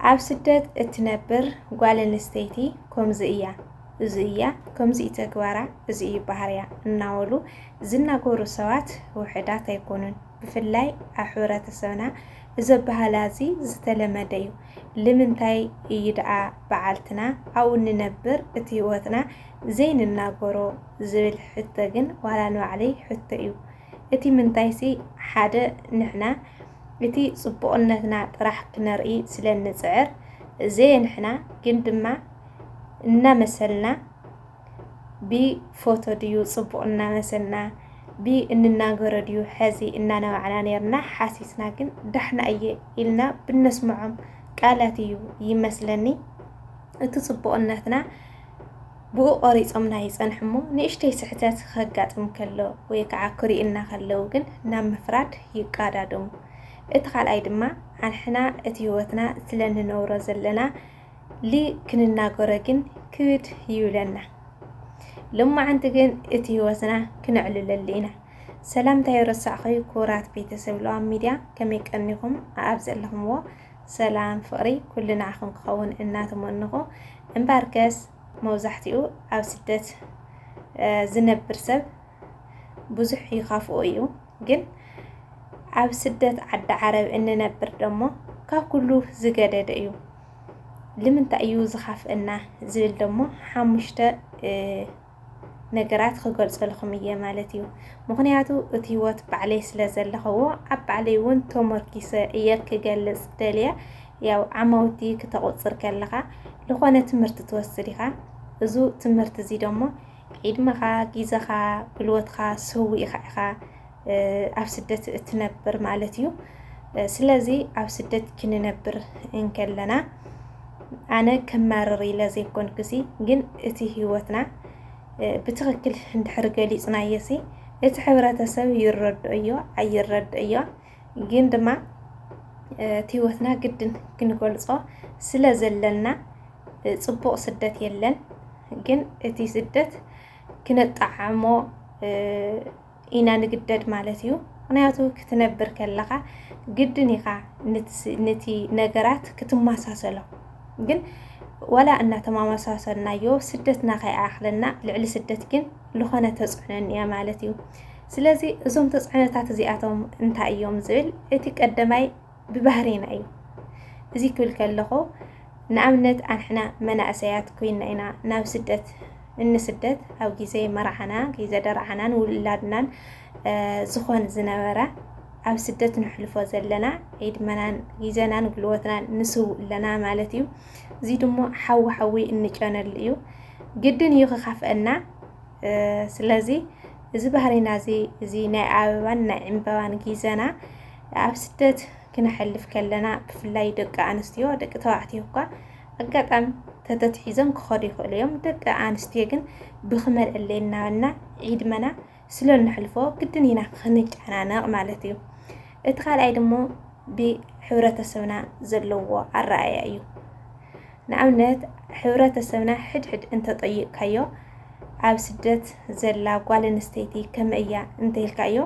ኣብ ስደት እትነብር ጓል ኣንስተይቲ ከምዚ እያ፣ እዚ እያ፣ ከምዚ እዩ ተግባራ፣ እዚ እዩ ባህርያ እናበሉ ዝናገሩ ሰባት ውሕዳት ኣይኮኑን። ብፍላይ ኣብ ሕብረተሰብና እዚ ኣበሃህላ እዚ ዝተለመደ እዩ። ልምንታይ እዩ ደኣ በዓልትና ኣብኡ እንነብር እቲ ህይወትና ዘይንናገሮ ዝብል ሕቶ ግን ዋላ ንባዕለይ ሕቶ እዩ። እቲ ምንታይሲ ሓደ ንሕና እቲ ጽቡቕነትና ጥራሕ ክነርኢ ስለ እንጽዕር ዘየ ንሕና ግን ድማ እናመሰልና ብ ፎቶ ድዩ ጽቡቕ እናመሰልና ብ እንናገሮ ድዩ ሐዚ እናነባዕና ነርና ሓሲስና ግን ዳሕና እየ ኢልና ብነስምዖም ቃላት እዩ ይመስለኒ እቲ ጽቡቕነትና ብኡ ቆሪጾምና ይጸንሑ'ሞ ንእሽተይ ስሕተት ከጋጥም ከሎ ወይ ከዓ ክሪኡና ከለው ግን ናብ ምፍራድ ይቃዳደሙ። እቲ ካልኣይ ድማ ኣንሕና እቲ ህይወትና ስለ ንነብሮ ዘለና ል ክንናገሮ ግን ክብድ ይብለና። ሎማዓንቲ ግን እቲ ህይወትና ክነዕልለሉ ኢና። ሰላምታይ ረሳዕኸይ ኩራት ቤተሰብ ለዋም ሚድያ ከመይ ቀኒኹም ኣብ ዘለኹምዎ ሰላም ፍቅሪ ኩሉ ንዓኹም ክኸውን እናተመነኹ እምባርከስ መብዛሕቲኡ ኣብ ስደት ዝነብር ሰብ ብዙሕ ይኻፍኦ እዩ ግን ኣብ ስደት ዓዲ ዓረብ እንነብር ደሞ ካብ ኩሉ ዝገደደ እዩ ልምንታይ እዩ ዝኻፍአና ዝብል ደሞ ሓሙሽተ ነገራት ክገልጸልኹም እየ ማለት እዩ ምኽንያቱ እቲ ህይወት ባዕለይ ስለ ዘለኸዎ ኣብ ባዕለይ እውን ተመርኪሰ እየ ክገልጽ ደልየ ያው ዓማውቲ ክተቑፅር ከለኻ ዝኾነ ትምህርቲ ትወስድ ኢኻ እዙ ትምህርቲ እዚ ደሞ ዒድመኻ ጊዘኻ ጉልበትኻ ሰዊእኻ ኢኻ ኣብ ስደት እትነብር ማለት እዩ። ስለዚ ኣብ ስደት ክንነብር እንከለና ኣነ ከማርር ኢለ ዘይኮን ግዚ ግን እቲ ህይወትና ብትኽክል እንድሕር ገሊፅናየሲ እቲ ሕብረተሰብ ይረድኦዮ ኣይረድኦዮ ግን ድማ እቲ ህይወትና ግድን ክንገልፆ ስለ ዘለና ፅቡቕ ስደት የለን ግን እቲ ስደት ክነጣዓሞ ኢና ንግደድ ማለት እዩ። ምክንያቱ ክትነብር ከለኻ ግድን ኢኻ ንቲ ነገራት ክትመሳሰሎ ግን ዋላ እናተማመሳሰልናዮ ስደትና ከይኣኽለና ልዕሊ ስደት ግን ዝኾነ ተፅዕኖ እኒኣ ማለት እዩ። ስለዚ እዞም ተፅዕኖታት እዚኣቶም እንታይ እዮም ዝብል እቲ ቀደማይ ብባህሪና እዩ እዚ ክብል ከለኹ ንኣብነት ኣንሕና መናእሰያት ኮይና ኢና ናብ ስደት እንስደት ኣብ ግዜ መርዓና ግዜ ደርዓናን ውላድናን ዝኾን ዝነበረ ኣብ ስደት ንሕልፎ ዘለና ዕድመናን ግዜናን ጉልበትናን ንስው ኣለና ማለት እዩ እዚ ድሞ ሓዊ ሓዊ እንጨነሉ እዩ ግድን እዩ ክካፍአና ስለዚ እዚ ባህሪና እዚ እዚ ናይ ኣበባን ናይ ዕምበባን ግዜና ኣብ ስደት ክነሕልፍ ከለና ብፍላይ ደቂ ኣንስትዮ ደቂ ተባዕትዮ እኳ ኣጋጣሚ ተተትሒዞም ክኸዱ ይኽእሉ እዮም ደቂ ኣንስትዮ ግን ብክመልዕለ እናበልና ዒድመና ስለ እንሕልፎ ግድን ኢና ክንጨናነቕ ማለት እዩ እቲ ካልኣይ ድሞ ብሕብረተሰብና ዘለዎ ኣረኣያ እዩ ንኣብነት ሕብረተሰብና ሕድሕድ እንተጠይቕካዮ ኣብ ስደት ዘላ ጓል ኣንስተይቲ ከመይ እያ እንተይልካዮ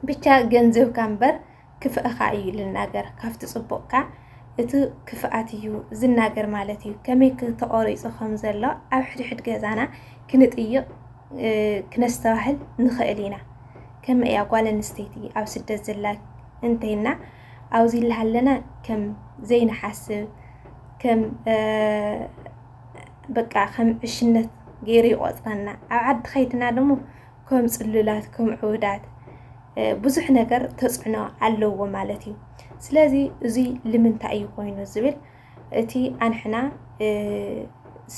ብቻ ገንዘብካ እምበር ክፍእኻ እዩ ልናገር ካብቲ ፅቡቕካ እቲ ክፍኣት እዩ ዝናገር ማለት እዩ ከመይ ተቆሪፁ ከም ዘሎ ኣብ ሕድሕድ ገዛና ክንጥይቕ ክነስተባህል ንኽእል ኢና ከም እያ ጓል ኣንስተይቲ ኣብ ስደት ዘላ እንተይና ኣብዚ ላሃለና ከም ዘይንሓስብ ከም በቃ ከም ዕሽነት ገይሩ ይቆፅረና ኣብ ዓዲ ከይድና ደሞ ከም ፅሉላት ከም ዕውዳት ብዙሕ ነገር ተፅዕኖ ኣለዎ ማለት እዩ። ስለዚ እዙይ ልምንታይ እዩ ኮይኑ ዝብል እቲ ኣንሕና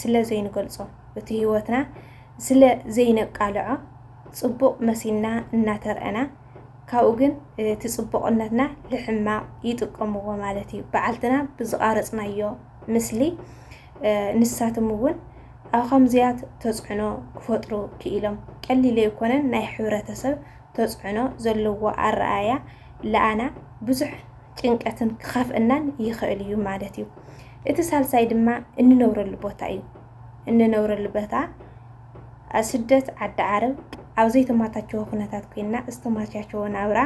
ስለ ዘይንገልፆ እቲ ህይወትና ስለ ዘይነቃልዖ ፅቡቕ መሲልና እናተርአና ካብኡ ግን እቲ ፅቡቕነትና ልሕማቕ ይጥቀምዎ ማለት እዩ። በዓልትና ብዝቓረፅናዮ ምስሊ ንሳቶም እውን ኣብ ኸምዚያት ተፅዕኖ ክፈጥሩ ክኢሎም። ቀሊል ኣይኮነን ናይ ሕብረተሰብ ተፅዕኖ ዘለዎ ኣረኣእያ ለኣና ብዙሕ ጭንቀትን ክኸፍእናን ይኸእል እዩ ማለት እዩ። እቲ ሳልሳይ ድማ እንነብረሉ ቦታ እዩ። እንነብረሉ ቦታ ስደት ዓዲ ዓረብ ኣብ ዘይተማታቸወ ኩነታት ኮይና ዝተማቻቸወ ናብራ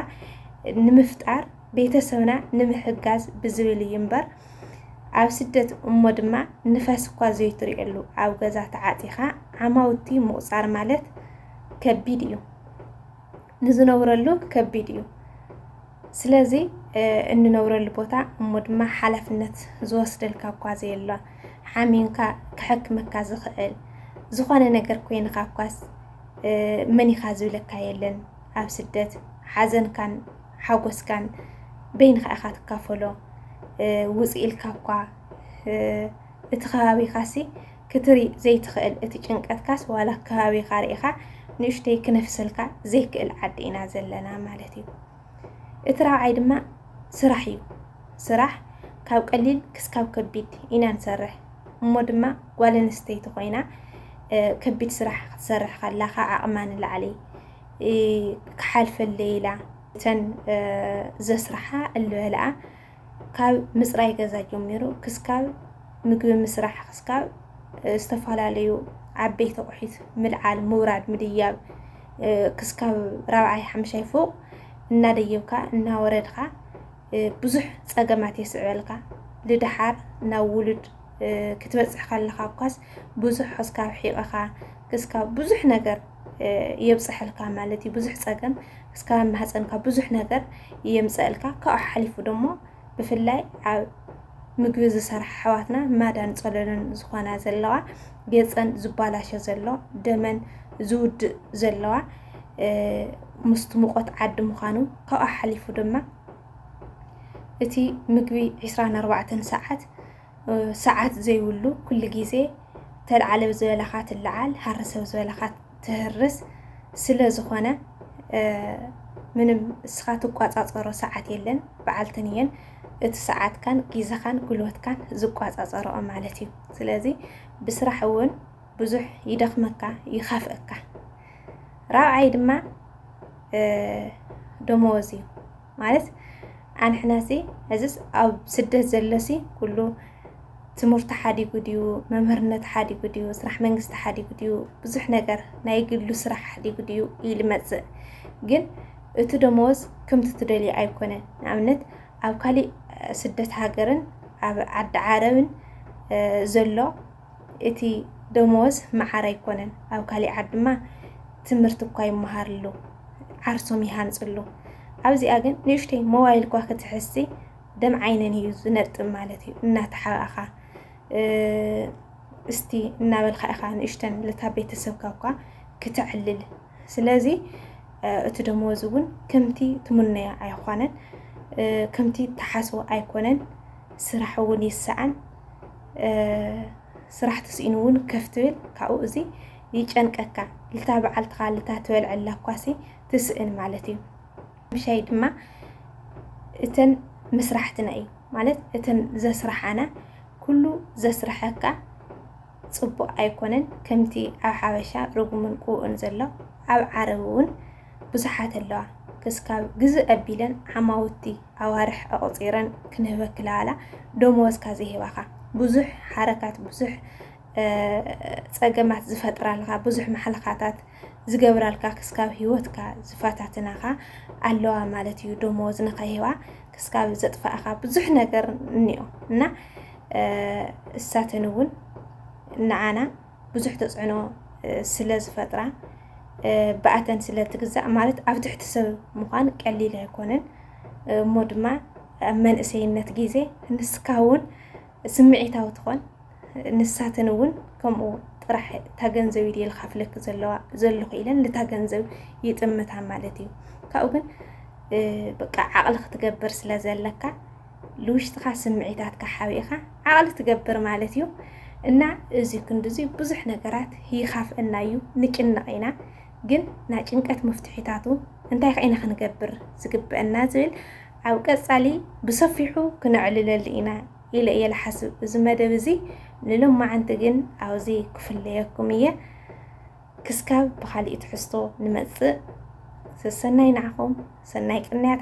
ንምፍጣር ቤተሰብና ንምሕጋዝ ብዝብል እዩ እምበር ኣብ ስደት እሞ ድማ ንፋስ እኳ ዘይትሪእሉ ኣብ ገዛ ተዓፂኻ ዓማውቲ ምቑፃር ማለት ከቢድ እዩ። ንዝነብረሉ ከቢድ እዩ። ስለዚ እንነብረሉ ቦታ እሞ ድማ ሓላፍነት ዝወስደልካ እኳ ዘየሎ ሓሚንካ ክሕክመካ ዝኽእል ዝኾነ ነገር ኮይንካ እኳስ መን ኢኻ ዝብለካ የለን። ኣብ ስደት ሓዘንካን ሓጎስካን በይንኻ ኢኻ ትካፈሎ ውፅ ኢልካ እኳ እቲ ከባቢኻሲ ክትርኢ ዘይትኽእል እቲ ጭንቀትካስ ዋላ ከባቢኻ ርኢኻ ንእሽተይ ክነፍሰልካ ዘይክእል ዓዲ ኢና ዘለና ማለት እዩ እቲ ራብዓይ ድማ ስራሕ እዩ ስራሕ ካብ ቀሊል ክስካብ ከቢድ ኢና ንሰርሕ እሞ ድማ ጓል ኣንስተይቲ ኮይና ከቢድ ስራሕ ክትሰርሕ ከላ ካብ ዓቕማ ንላዕሊ ክሓልፈለይ ኢላ እተን ዘስርሓ እልበልኣ ካብ ምፅራይ ገዛ ጀሚሩ ክስካብ ምግቢ ምስራሕ ክስካብ ዝተፈላለዩ ዓበይቲ ኣቑሒት ምልዓል፣ ምውራድ፣ ምድያብ ክስካብ ራብዓይ ሓምሻይ ፎቕ እናደየብካ እናወረድካ ብዙሕ ፀገማት የስዕበልካ ልድሓር ናብ ውሉድ ክትበፅሕ ከለኻ እኳስ ብዙሕ ሕስካብ ሒቕኻ ክስካብ ብዙሕ ነገር የብፅሐልካ ማለት እዩ ብዙሕ ፀገም እስካብ ማህፀንካ ብዙሕ ነገር የምፀእልካ ካብኡ ሓሊፉ ደሞ ብፍላይ ኣብ ምግቢ ዝሰርሓ ኣሕዋትና ማዳን ፀለሎን ዝኾና ዘለዋ ገፀን ዝባላሸ ዘሎ ደመን ዝውድእ ዘለዋ ምስቲ ሙቐት ዓዲ ምዃኑ ካብኣ ሓሊፉ ድማ እቲ ምግቢ 24 ሰዓት ሰዓት ዘይብሉ ኩሉ ግዜ ተልዓለ ዝበለኻ ትለዓል ሃር ሰብ ዝበለኻ ትህርስ ስለ ዝኾነ ምንም እስኻ ትቋፃፀሮ ሰዓት የለን በዓልትን እየን እቲ ሰዓትካን ግዜኻን ጉልበትካን ዝቋፃፀረኦ ማለት እዩ ስለዚ ብስራሕ እውን ብዙሕ ይደኽመካ ይኸፍእካ። ራብዓይ ድማ ደመወዝ እዩ ማለት ኣንሕናሲ እዚስ ኣብ ስደት ዘለሲ ኩሉ ትምህርቲ ሓዲጉ ድዩ መምህርነት ሓዲጉ ድዩ ስራሕ መንግስቲ ሓዲጉ ድዩ ብዙሕ ነገር ናይ ግሉ ስራሕ ሓዲጉ ድዩ ኢሉ መፅእ ግን እቲ ደመወዝ ከምቲ ትደልዩ ኣይኮነን ንኣብነት ኣብ ካሊእ ስደት ሃገርን ኣብ ዓዲ ዓረብን ዘሎ እቲ ደሞዝ መዓር ኣይኮነን ኣብ ካሊእ ዓድ ድማ ትምህርቲ እኳ ይመሃርሉ ዓርሶም ይሃንፅሉ ኣብዚኣ ግን ንእሽተይ ሞባይል እኳ ክትሕዝሲ ደም ዓይነን እዩ ዝነጥብ ማለት እዩ እናተሓባእኻ እስቲ እናበልካ ኢኻ ንእሽተን ልታ ቤተሰብካ እኳ ክተዕልል ስለዚ እቲ ደመወዝ እውን ከምቲ ትምነዮ ኣይኳነን ከምቲ ተሓስቦ ኣይኮነን ስራሕ እውን ይሰኣን ስራሕ ተስኢኑ እውን ከፍ ትብል ካብኡ እዚ ይጨንቀካ ልታ በዓልትኻ ልታ ትበልዐላ እኳሲ ትስእን ማለት እዩ ምሻይ ድማ እተን ምስራሕትና እዩ ማለት እተን ዘስራሓና ኩሉ ዘስርሐካ ፅቡቅ ኣይኮነን ከምቲ ኣብ ሓበሻ ርጉምን ቅቡእን ዘሎ ኣብ ዓረብ እውን ብዙሓት ኣለዋ ክስካብ ግዝ ኣቢለን ዓማውቲ ኣዋርሕ ኣቁጺረን ክንህበኪ ለኣላ ደመወዝካ ዘይህባኻ ብዙሕ ሓረካት ብዙሕ ጸገማት ዝፈጥራልካ ብዙሕ ማሕለኻታት ዝገብራልካ ክስካብ ህይወትካ ዝፈታትናኻ ኣለዋ ማለት እዩ ደመወዝ ንኸይህባ ክስካብ ዘጥፋእኻ ብዙሕ ነገር እኒኦ እና እሳተን እውን ንዓና ብዙሕ ተፅዕኖ ስለ ዝፈጥራ ብኣተን ስለ ትግዛእ ማለት ኣብ ትሕቲ ሰብ ምዃን ቀሊል ኣይኮነን እሞ ድማ ኣብ መንእሰይነት ግዜ ንስካ እውን ስምዒታዊ ትኾን ንሳተን እውን ከምኡ ጥራሕ እታ ገንዘብ ኢድ ልካፍለክ ዘለዋ ዘለኹ ኢለን ልታ ገንዘብ ይጥምታ ማለት እዩ ካብኡ ግን በቃ ዓቕሊ ክትገብር ስለ ዘለካ ልውሽጥኻ ስምዒታትካ ሓቢእኻ ዓቕሊ ትገብር ማለት እዩ እና እዚ ክንድዚ ብዙሕ ነገራት ይኻፍእና እዩ ንጭነቕ ኢና ግን ናይ ጭንቀት መፍትሒታቱ እንታይ ከ ኢና ክንገብር ዝግበአና ዝብል ኣብ ቀጻሊ ብሰፊሑ ክነዕልለሉ ኢና ኢለ እየ ልሓስብ እዚ መደብ እዚ ንሎማዓንቲ ግን ኣብዚ ክፍለየኩም እየ ክስካብ ብካሊእ ትሕዝቶ ንመጽእ ሰሰናይ ንዓኹም ሰናይ ቅንያት